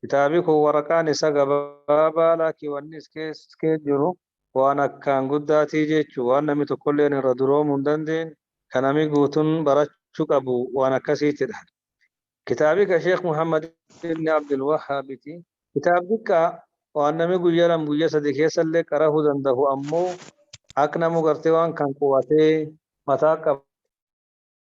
Kitaabi kun waraqaan isa gabaabaa laakki wanni iskeen jiru waan akkaan guddaatii jechu waan nami tokkolleen irra duroomu hin dandeen ka nami guutun barachu qabu waan akkasiitidha. Kitaabi ka Sheekh Muhammad ibn Abdul Wahhaabiti. Kitaab diqqaa waan nami guyya lam guyya sadi keessallee qarahu dandahu ammoo akk namu gartee waan kan qubatee mataa qaba.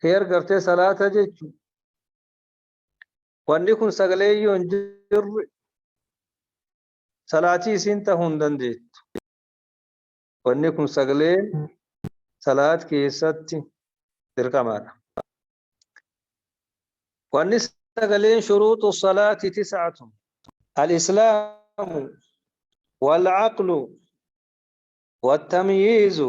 Fear gartee salaata jechu. Wanni kun sagalee yoo hin jirre salaatii isiin ta'uu hin dandeettu. Wanni kun sagalee salaat keessatti dirqamaadha. Wanni sagaleen shuruuxu salaati tis'atu. Al-Islaamu wal-aqlu wal-tamyiizu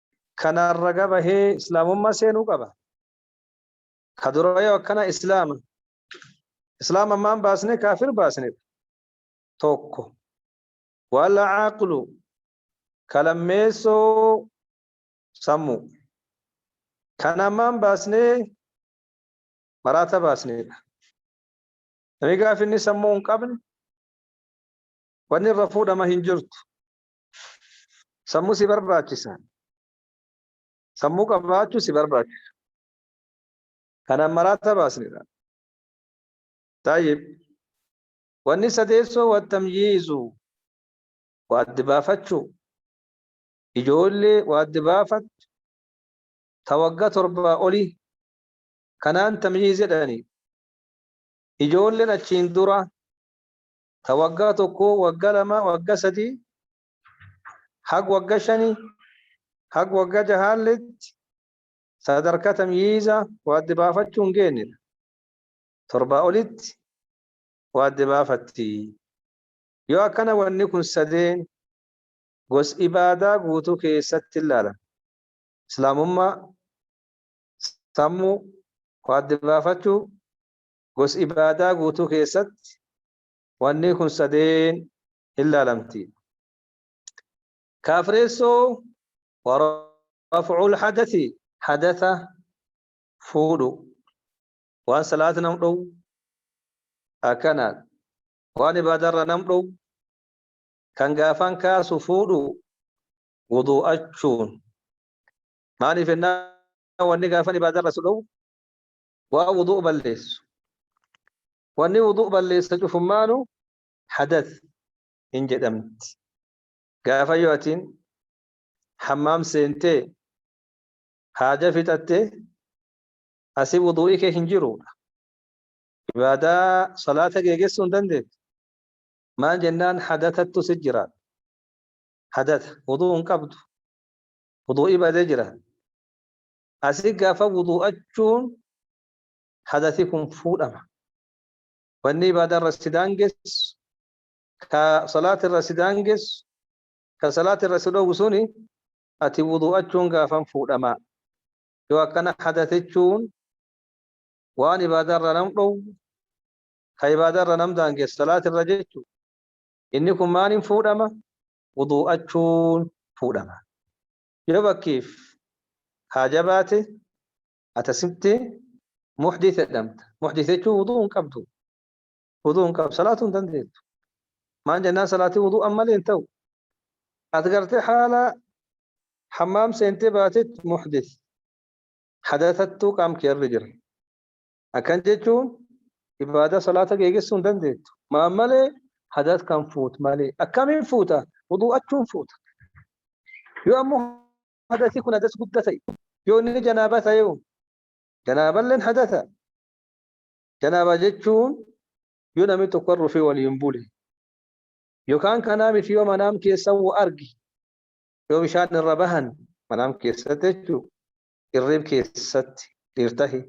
kanaan raga bahee islaamummaa seenuu qaba ka dura yoo akkana islaama islaama ammaan baasne kaafir baasne tokko wala aqlu ka lammeessoo sammuu kan ammaan baasne maraata baasneedha namni gaafi inni sammuu hin qabne wanni irra fuudhama hin jirtu Sammuu si barbaachisa. Sammuu qabaachuu si barbaachisa. Kanaan maraata baasnedha. Taayib. Wanni sadeessoo wattamyiizu waaddi baafachuu. Ijoollee waaddi baafattu ta wagga torbaa olii kanaan tamyiiz jedhani. Ijoolleen achiin dura ta wagga tokko, wagga lama, wagga sadi, haga wagga shani, haga wagga jahaalletti sadarka tamyiiza wa adda baafachuu hin geennedha. Torbaa olitti wa adda baafatti. Yoo akkana wanni kun sadeen gos ibaadaa guutuu keessatti hin laalan. Islaamummaa, sammuu, wa adda baafachuu, gos ibaadaa guutuu keessatti wanni kun sadeen hin laalamti. Kaafreessoo warafcul hadathi hadatha fuudhu waan salaata nam dhowu akkanaan waan ibaadarra nam dhowu kan gaafan kaasu fuudhu wuduu'achuun maaliif ennaa wanni gaafan ibaadarra su dhowu waan wudu'u balleessu wanni wudu'u balleessa cufummaanu hadath hin jedhamti gaafa yoo atiin hammaam seentee haaja fixatte asi wudu'i kee hin jiruudha ibaadaa salaata geegessuu hin dandeettu maal jennaan hadatattu si jira hadata wudu'u hin qabdu wudu'i badee jira asi gafa wudu'achuun hadasi kun fuudhama wanni ibaada irra si daangessu ka salaati irra si daangessu ka salaati irra si dhowwu suni ati wudu'achuun gaafan fuudhama yoo akkana hadasichuun waan ibaada irra nam dhowwu ka ibaada irra nam daangessu salaati irra jechu inni kun maaliin fuudhama wudu'achuun fuudhama Yoo bakkiif haa jabaate atasitti muhdith jedhamta. Muhdith jechuun wuduu hin qabdu. Wuduu hin qabdu. Salaatuu hin dandeettu. Maan jennaan salaatii wuduu ammalee hin ta'u. Ati gartee haala hammaam seentee baatetti muhdith. Hadatattuu qaam kee irra jira. akkan jechuun ibaadaa salaata geegessuu hin dandeettu maan malee hadas kan fuut malee akkamiin fuuta wuduu'achuun fuuta yoo ammoo hadasi kun hadas gudda ta'e yoo inni janaaba ta'e janaaballeen hadasa janaaba jechuun yoo namni tokko rufee waliin bule yookaan kanaa miti yoo manaam keessa argi yoo bishaan irra bahan manaam keessatti jechuudha. irriib keessatti dhiir tahi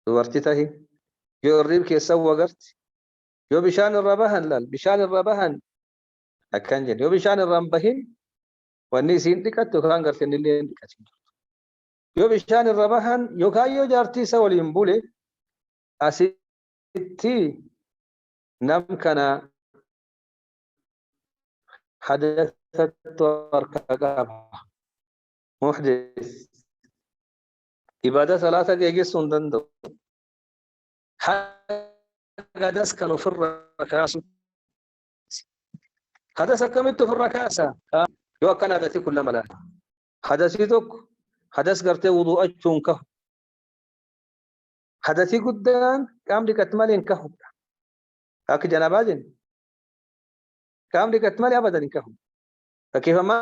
dubarti tahi yoo irriib keessan wagarti yoo bishaan irra bahan laal bishaan irra bahan akkan jedhe yoo bishaan irra hin bahin wanni isiin dhiqattu yookaan garteen illee hin dhiqatin yoo bishaan irra bahan yookaan yoo jaartii isa waliin bule asitti nam kana hadatatu harka qaba muhdis ibaadaa salaata geegessuu hin danda'u hadadas kan ofirra kaasu hadas akkamitti ofirra kaasa yoo akkana hadasi kun lama laata hadasii tokko hadas gartee wudu'achuu hin kahu hadasii guddaan qaam dhiqatti malee hin kahu akka janabaa jennu qaam dhiqatti malee abadan hin kahu fakkeeffamaa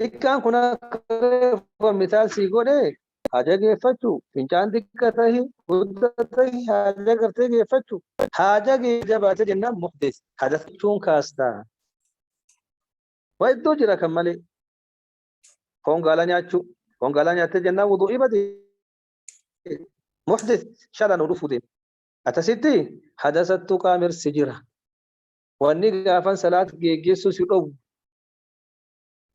Xiqqaan kun akka reefu kan mitaal sii godhe haa jageeffachu fincaan xiqqa tahi gudda tahi haa jagartee geeffachu haa jagee jabaate jennaan muhdees hadafachuun kaasta waa iddoo jira kan malee foon gaalaa nyaachuu foon gaalaa nyaattee jennaan wuduu'ii bade muhdees shala nu dhufuu deema atasitti hadasattu qaamirsi jira wanni gaafan salaat geeggeessuu si dhowwu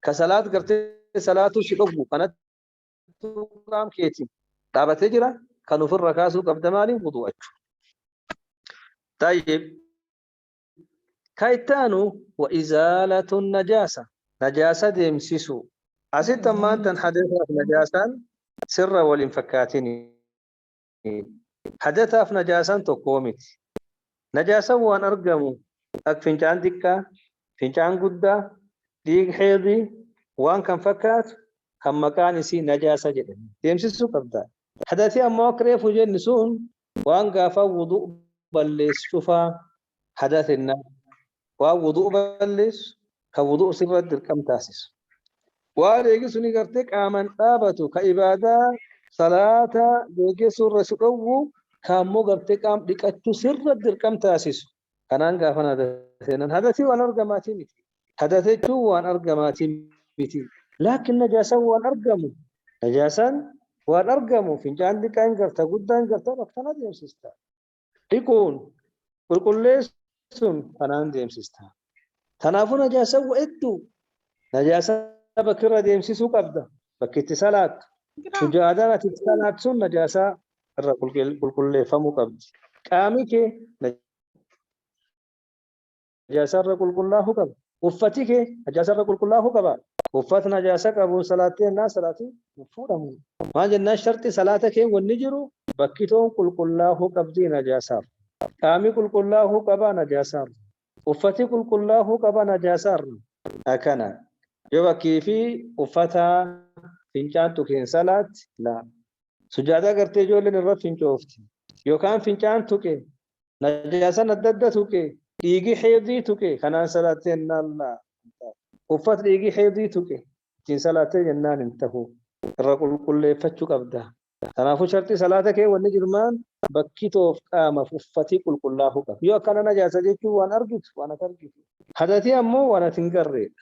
ka salaat gartee salaatuu si dhoggu kanattuu qaam keetiin dhaabatee jira kan ofirra kaasuu qabda maaliin wudu'achu tayyib ka itti aanu wa izaalatun najaasa najaasa deemsisuu asitti ammaan tan hadeesaaf najaasaan sirra waliin fakkaatinii Hadasaaf najaasaan tokkoo miti. Najaasaan waan argamu ak fincaan xiqqaa, fincaan guddaa, dhiig heedii waan kan fakkaatu kan maqaan isii najaasa jedhame deemsisuu qabda. Hadasi ammoo akka reefu jenni sun waan gaafaa wudu balleessu cufaa hadaa sennaa waan wudu'u balleessu kan wudu'u sirra dirqam taasisu waan eegi suni gartee qaaman dhaabatu ka ibaadaa salaata geeggeessuu irra si dhowwu ka ammoo gartee qaam dhiqachu sirra dirqam taasisu kanaan gaafan hada seenan hadasii waan argamaatii miti hadasa jechuun waan argamaatii miti laakin najaasan waan argamu najaasan waan argamu fincaan diqaan garta guddaan garta akkana deemsista dhiquun qulqulleessuun kanaan deemsista. Kanaafuu najaasawwa hedduu najaasaa bakki irra deemsisuu qabda. Bakki itti salaattu. Sujaadaan ati itti salaattu sun najaasaa irra qulqulleeffamuu qabdi. Qaamni kee najaasa irra qulqullaahuu qaba. Uffati kee najaasa irra qulqullaahuu qaba. Uffat najaasa qabuun salaattee jennaan salaatiin hin fuudhamu. Maal jennaan sharxi salaata kee wanni jiru bakkitoon qulqullaahuu qabdii najaasaar. Qaami qulqullaahuu qabaa najaasaar. Uffati qulqullaahuu qaba najaasaar. Akana. Yoo bakkii fi uffataa fincaan tuqeen salaatte laa. Sujaadaa gartee ijoolleen irra fincoofti. Yookaan fincaan tuqe najaasan adda adda tuqe dhiigi heedii tuqe kanaan salaattee jennaan laa uffat dhiigi heedii tuqe ittiin salaattee jennaan hin tahu irra qulqulleeffachuu qabda kanaafuu sharxii salaata kee wanni jirmaan bakki toof qaamaf uffatii qulqullaahuu qaba yoo akkana najaasa jechuun waan argitu waan ati argitu hadatii ammoo waan ati hin garreedha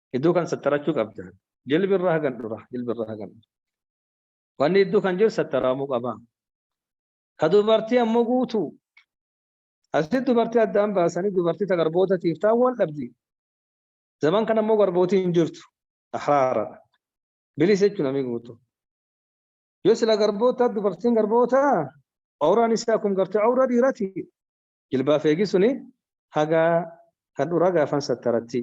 Iddoo kan sattarachuu qabda. Jilbi irra hagan dhura. Jilbi irra hagan dhura. Wanni iddoo kan jiru sattaraamuu qaba. Ka dubartii ammoo guutuu. Asitti dubartii addaan baasanii dubartii ta garboota tiiftaa wal dhabdi. Zaman kana ammoo garbootii hin jirtu. Ahraaradha. Bilisa jechuun namni guutuu. Yoo sila garboota dubartiin garboota awraan isaa kun gartee awra dhiirati. Jilbaaf eegi suni haga hadhura gaafan sattaratti.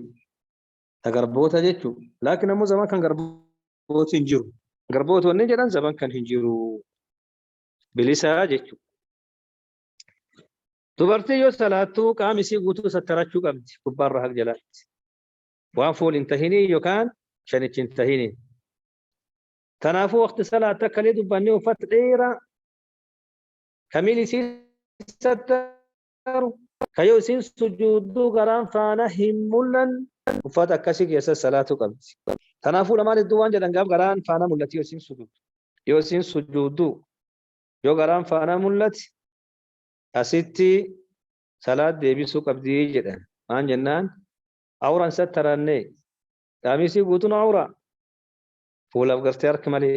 Ta garboota jechu. Laakin ammo zaman kan garbooti hin jiru. Garbooti wanni jedhan zaman kan hin jiru. Bilisaa jechu. Dubartii yoo salaattu qaam isii guutuu sattarachuu qabdi gubbaarra haq jalaatti. Waan fuul hin tahinii yookaan shanichi hin tahinii. Kanaafuu waqti salaatta akkalee dubbannee uffata dheeraa kamiin isiin sattaru ka yoo isiin sujuudduu garaan faana hin mul'an uffata akkasii keessa salaatuu qabdi tanaafuu lamaan hedduu waan jedhan gaaf garaan faana mul'ati yoo isiin sujuuddu yoo isiin sujuudduu yoo garaan faana mul'ati asitti salaat deebisuu qabdi jedhan maan jennaan awraan sattaranne qaamisii guutuun awraa fuulaaf gartee harki malee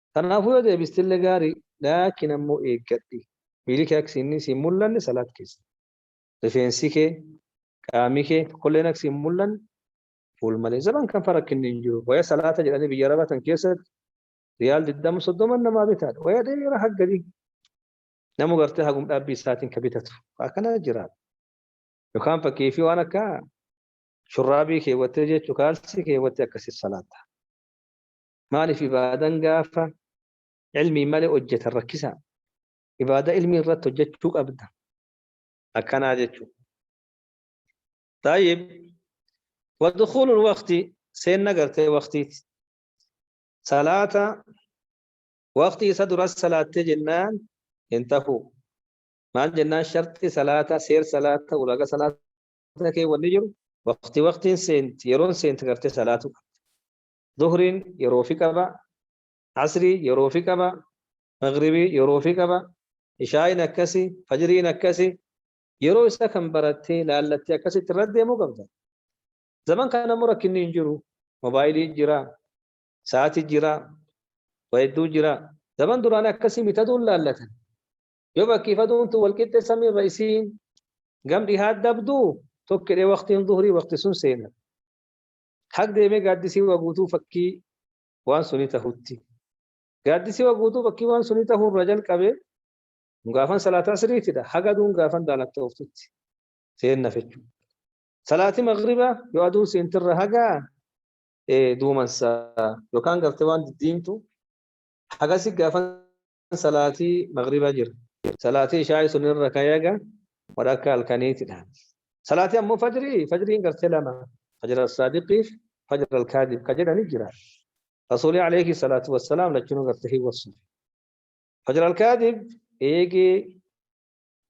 Kanaafuu yoo deebistille gaari, laakiin ammoo eeggadhi. Miili kee akka inni si hin mullanne salaat keessa. Rifeensi kee, qaami kee tokkolleen akka si hin mullanne fuul malee. Zaman kan fa rakkinni hin jiru. Waya salaata jedhanii biyya Arabaa tan keessatti riyaal 20 30 namaa bitaadha. Waya dheera hagga gadii. Namu gartee hagum dhaabbii isaatiin ka bitatu. Akkana jiraata. Yookaan fakkii fi waan akka shurraabii keewwattee jechuu kaalsii keewwattee akkasitti salaata. Maaliif ibaadan gaafa ilmiin malee hojjetan rakkisaa? Ibaada ilmii irratti hojjechuu qabda. Akkanaa jechuudha. Taayib, wadukhuulul waqti seenna gartee waqtiiti. Salaata waqtii isa duras salaattee jennaan hin tahu. Maal jennaan sharxii salaata, seer salaata, ulaaga salaata kee wanni jiru waqtii waqtiin seenti, yeroon seenti gartee salaatu qabda. Zuhriin yeroo fi qaba, Asrii yeroo fi qaba, Maghribii yeroo fi qaba, Ishaa'iin akkasi, Fajriin akkasi, yeroo isaa kan barattee laallattee akkasitti irra deemuu qabda. Zaman kana immoo rakkinni hin jiru. Mobaayilii jira, sa'aatii jira, waa hedduu jira. Zaman duraan akkasii mitaduun laallatan. Yoo bakkii faduun tun wal qixxee samii irra isiin gam dhihaa dabduu tokkidhee waqtiin zuhrii waqti sun seena. Hag deemee gaaddisii waa guutuu fakkii waan sunii tahutti. Gaaddisii waa guutuu fakkii waan sunii tahuu irraa jalqabee gaafan salaataa siriitidha. Haga aduun gaafan daalacha'ooftutti seenna fechuu. Salaati magribaa yoo aduun seentirra haga duumansa yookaan garte waan diddiimtu hagasi gaafan salaatii magriba jira salaatii ishaa'i sun irra kayaga wadhakka halkaniitidha salaatii ammoo fajrii fajriin gartee lama fajra saadiqiif fajra alkaadib ka jedhani jira rasuuli alayhi salaatu wassalaam lachunuu gartee hin wassuuf fajra alkaadib eegee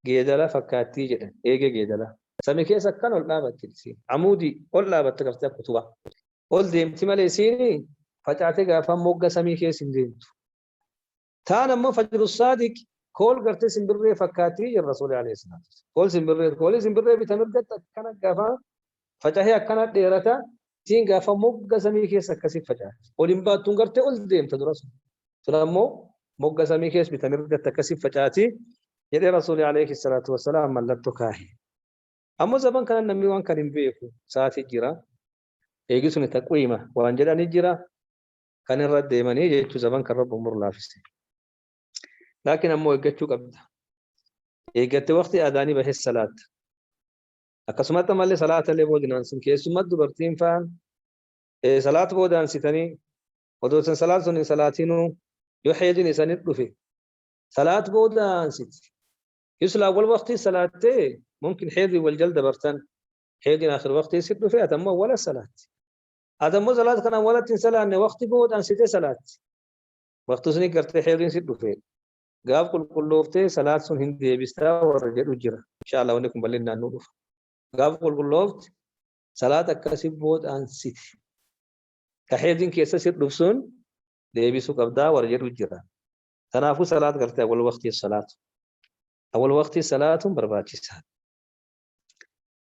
geedala fakkaattii jedhan eegee geedala sami keessa akkan ol dhaabatti isiin amuudii ol dhaabatte gartee akka utubaa ol deemti malee isiin facaatee gaafa mogga samii keessa hin deemtu taan ammoo fajru saadiq kool gartee simbirree fakkaattii jedhan rasuulii alayhi salaatu wassalaam. kool simbirree koolii simbirree bita mirgatti akkana gaafa facahee akkana dheerata tiin gaafa mogga samii keessa akkasii facaha ol hin baattuun gartee ol deemta dura sun sun ammoo mogga samii keessa bita mirgatti akkasii facaati jedhee rasuulii alayhi salaatu wassalaam mallattoo kaahe. Ammoo zaban kana namni waan kan hin beeku sa'aatii jira. Eegi sun taqwiima waan jedhanii jira. kan irra deemanii jechuu zaman kan rabbi umur laafise laakiin ammoo eeggachuu qabda eeggatte waqtii adaanii bahes salaatta akkasumatti ammallee salaata illee boodinaan sun keessumatti dubartiin faan salaata boodaan sitanii odoo san salaata sun hin salaatinuu yoo heedin isanit dhufe salaat boodaan siti yuslaa wal waqtii salaattee mumkin heedii wal jal dabartan heedin akhir waqtii sit dhufe atammoo wala salaatti Ati ammoo salaata kanaan walatti hin salaanne waqti booda ansitee salaatti. Waqti suni gartee heeriin si dhufe. Gaaf qulqullooftee salaat sun hin deebistaa warra jedhu jira. Inshaallah wanni kun bal'inaan nu dhufa. Gaaf qulqulloofte salaata akkasii booda ansite. Ka heeriin keessa si dhufu sun deebisuu qabdaa warra jedhu jira. Kanaafuu salaat gartee awwal waqtii salaatu. Awwal waqtii salaatuun barbaachisaadha.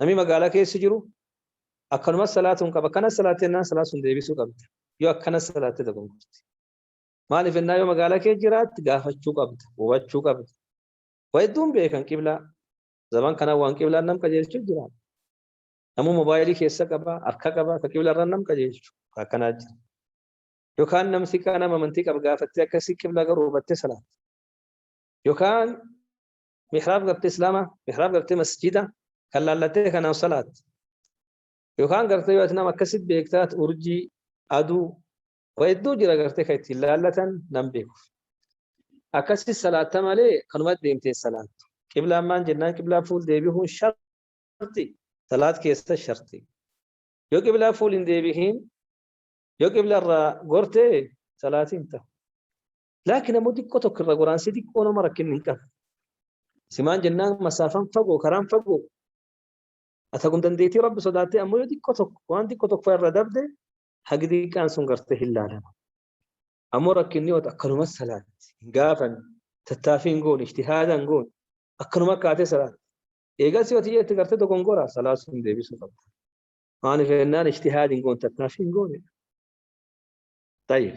Namni magaalaa keessa jiru akkanumas salaatuun qaba. Akkana salaatte jennaan salaat sun deebisuu qabda. Yoo akkana salaatte dogongorti. Maaliif jennaan yoo magaalaa keessa jiraatte gaafachuu qabda, hubachuu qabda. Waa hedduun beekan qiblaa. Zaman kana waan qiblaan nam qajeelchu jira. Namuu moobaayilii keessa qaba, harka qaba, akka qiblarra nam qajeelchu akkanaa jira. Yookaan namsi kaan nama amantii qaba gaafattee akkasii qiblaa garuu hubattee salaatte. Yookaan mihraab gartee islaama mihraab gartee masjida kan laallattee kanaan salaat yookaan gartee yoo nama akkasi beektaat urjii aduu waa hedduu jira gartee kan ittiin laallatan nan beekuuf akkasi salaatta malee kanuma deemtee salaattu qiblaan maan jennaan qiblaa fuul deebi'uun sharti salaat keessa sharti yoo qiblaa fuul hin deebi'iin yoo qibla irraa gortee salaatiin ta'u Laakiin ammoo xiqqoo tokko irra goraan si xiqqoo nama rakkinni hin qabu. Simaan jennaan masaafaan fagoo karaan fagoo. Ata kun dandeettii rabbi sodaattee ammoo yoo xiqqoo tokko waan xiqqoo tokko irra dabde hagi xiqqaan sun gartee hin laalama. Ammoo rakkinni yoo akkanumas salaatti hin gaafan tattaafii hin goone ijtihaada hin goone akkanuma kaatee salaatti. Eegas yoo ta'e itti gartee dogongoraa salaa sun deebisuu qabda. Maaliif jennaan ijtihaadi hin goone tattaafii hin goone. Tayyib.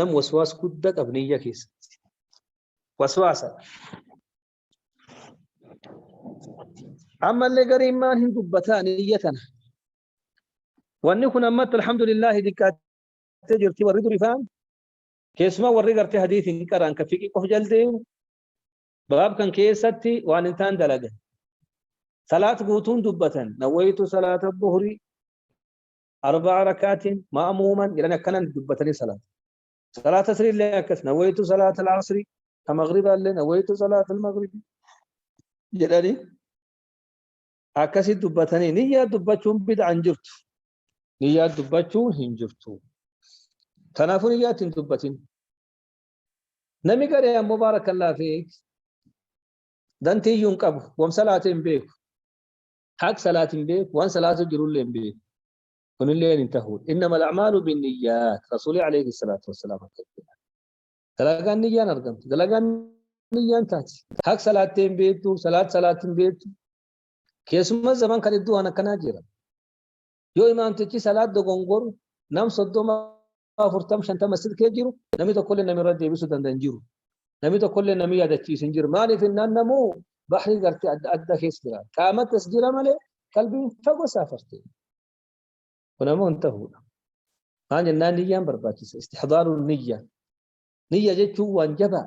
nam waswaas gudda qab niyya keessatti waswaasa ammallee gariin maan hin dubbataa niyya tana wanni kun ammatti alhamdulillahi diqqaattee jirti warri durifaan keessumaa warri gartee hadiis hin qaraan ka fiqii qof jaldeemu baab kan keessatti waan hin taan dalagan salaat guutuun dubbatan nawwayitu salaata buhrii arba'a rakaatiin ma'amuuman jedhan akkanan dubbatanii salaata. Salaata asrii illee akkas nawaytu salaata al-asrii ka maghribaa illee nawaytu salaata al-maghribi jedhanii akkasii dubbatanii niyyaa dubbachuun bid'aan jirtu. Niyyaa dubbachuu hin jirtu. Kanaafuu niyyaa ittiin dubbatin. Nami garee ammoo baarakallaa fi dantiyyuu hin qabu. Wam salaatee hin beeku. haq salaat hin beeku waan salaatu jirullee hin beeku kunillee hin tahu innama al'amaalu binniyyaat rasuulii alayhi salaatu wassalaam akka jedha dalagaan niyyaan argamti dalagaan niyyaan taati haq salaattee hin beektu salaat salaat hin beektu keessummaa zaman kan iddoo waan akkanaa jira yoo imaamtichi salaat dogongoru nam soddoma afurtama shantama silkee jiru namni tokkollee namni irra deebisuu danda'u hin jiru. Namni tokkollee namni yaadachiisu hin jiru. Maaliif innaan namuu bahrii gartee adda addaa keessa jira. Qaamattis jira malee qalbiin fagoo saafarte. Kun ammoo hin ta'uudha. Maal jennaan niyyaan barbaachisa. Istixdaaruun niyyaa. Niyya jechuun waan jabaa.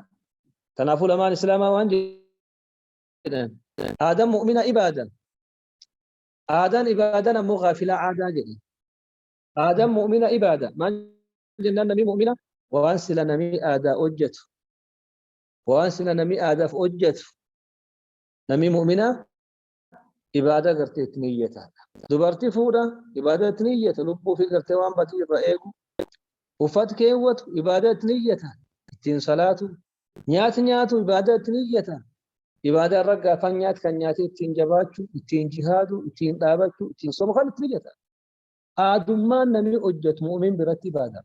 Kanaafuu lamaan islaamaa waan jedhan. Aadaan mu'mina ibaadan. Aadaan ibaadan ammoo gaafilaa aadaa jedhan. Aadaan mu'mina ibaada. Maal jennaan namni mu'mina? Waan sila namni aadaa hojjetu. Waan sila namni aadaaf hojjetu. Namni mu'mina ibaada gartee itti niyyata. Dubartii fuudha ibaada itti niyyata. Lubbuu fi gartee waan badii irra eegu. Uffat keewwatu ibaada itti niyyata. Ittiin salaatu. Nyaati nyaatu ibaada itti niyyata. Ibaada irra gaafan nyaati kan nyaatee ittiin jabaachu, ittiin jihaadu, ittiin dhaabachu, ittiin somu kan itti niyyata. aadummaan namni hojjetu mu'min biratti ibaada.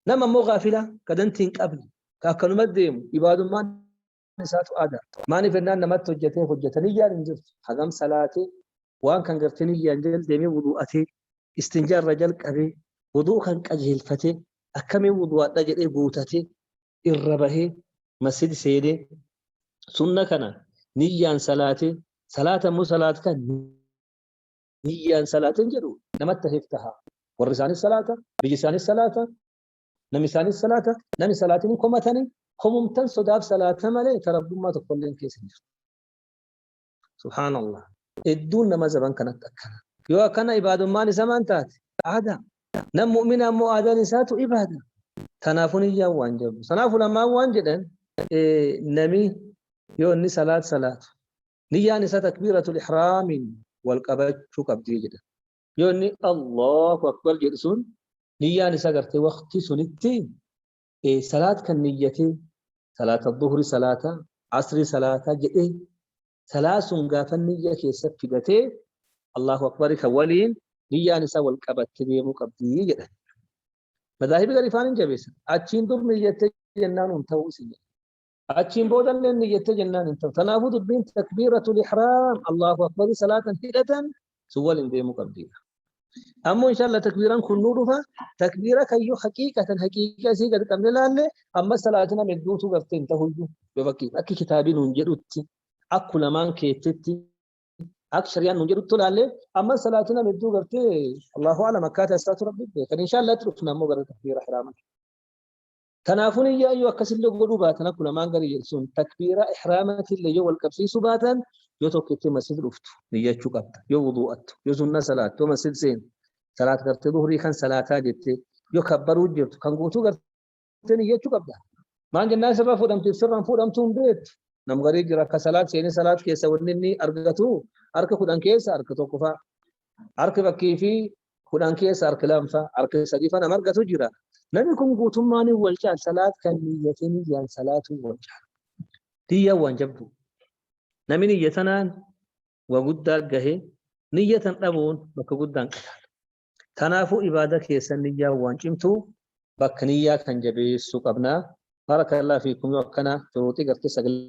Nama immoo gaafila ka danti hin qabne ka akkanuma deemu ibaadummaan isaatu aada. Maaliif jennaan namatti hojjetee hojjeta niyyaan hin jirtu. Hagam salaatee waan kan gartee niyyaan jala deemee wuduu'atee istinjaa irra jalqabee wuduu kan qajeelfatee akkamiin wuduu'adha jedhee guutatee irra bahee masjid seenee sunna kana niyyaan salaatee salaata immoo salaat kan niyyaan salaateen jedhu nama taheef taha. Warri isaanis salaata, biyyi isaanis salaata, namni isaanis salaata, namni salaatiin komatanii komumtan sodaaf salaata malee tarabbummaa tokkollee hin keessa jiru. Subhaanallah. Hedduun nama zaban kanatti akkana. Yoo akkana ibaadummaan isa maan taate aadaa. Nam mu'mina ammoo aadaan isaatu ibaada. Kanaafuu niyyaan waan jabu. Kanaafuu lamaan waan jedhan namni yoo inni salaat salaatu Niyyaan isaa takbiiratul ihraamiin wal qabachuu qabdii jedha. Yoo inni Allahu akbar jedhu sun niyyaan isaa gartee waqtii sunitti salaat kan niyyatee salaata duhri salaata asri salaata jedhee salaa sun gaafa niyya keessa fidatee Allahu akbar kan waliin niyyaan isaa wal qabattee deemuu qabdii jedha. Madaahibi gariifaan hin jabeessan. Achiin dur niyyattee jennaan hin ta'uu isin jedha. Achiin booda illee ni jettee jennaan hin ta'u. Kanaafuu dubbiin takbiiratul ihraam Allahu akbarii salaatan hidhatan sun waliin deemuu qabdi. Ammoo inshallah takbiiraan kun nu dhufa takbiira kayyoo haqiiqatan haqiiqa isii gad qabne laalle amma salaatina medduutu garte hin ta'uyyu yoo fakkii akki kitaabii nuun jedhutti akku lamaan keettitti akka shari'aan nuun jedhutti laalle amma salaatina medduu garte Allahu alam akkaataa isaatu rabbi beekan inshallah itti dhufna ammoo gara takbiira ihraama. Kanaafuu niyyaa yoo akkasillee godhuu baatan akkuma lamaan gadi jedhu sun takbiiraa ihraamaatillee yoo wal qabsiisuu baatan yoo tokkitti masjid dhuftu niyyachuu qabda yoo wuduu'attu yoo sunna salaattu yoo masjid seentu salaat gartee duhrii kan salaataa jettee yoo kabbaruu jirtu kan guutuu gartee niyyachuu qabda. Maan jennaan sirra fuudhamtiif sirraan fuudhamtuu hin beektu. Nam garii jira akka salaat seenee salaat keessa wanni inni argatu harka kudhan keessa harka tokko fa'a. Harki fakkii fi kudhan keessa harki lamfa harki sadifa nama argatu jira namni kun guutummaan hin wal caal salaat kan niyyate niyyaan salaatuu wal caal niyya waan jabdu namni niyya tanaan waa guddaa gahe niyya tan dhabuun bakka guddaan qadaala tanaafuu ibaada keessa niyyaa waan cimtuu bakka niyyaa kan jabeessu qabna barakallah fiikum yoo akkana shuruuxii gartee sagalee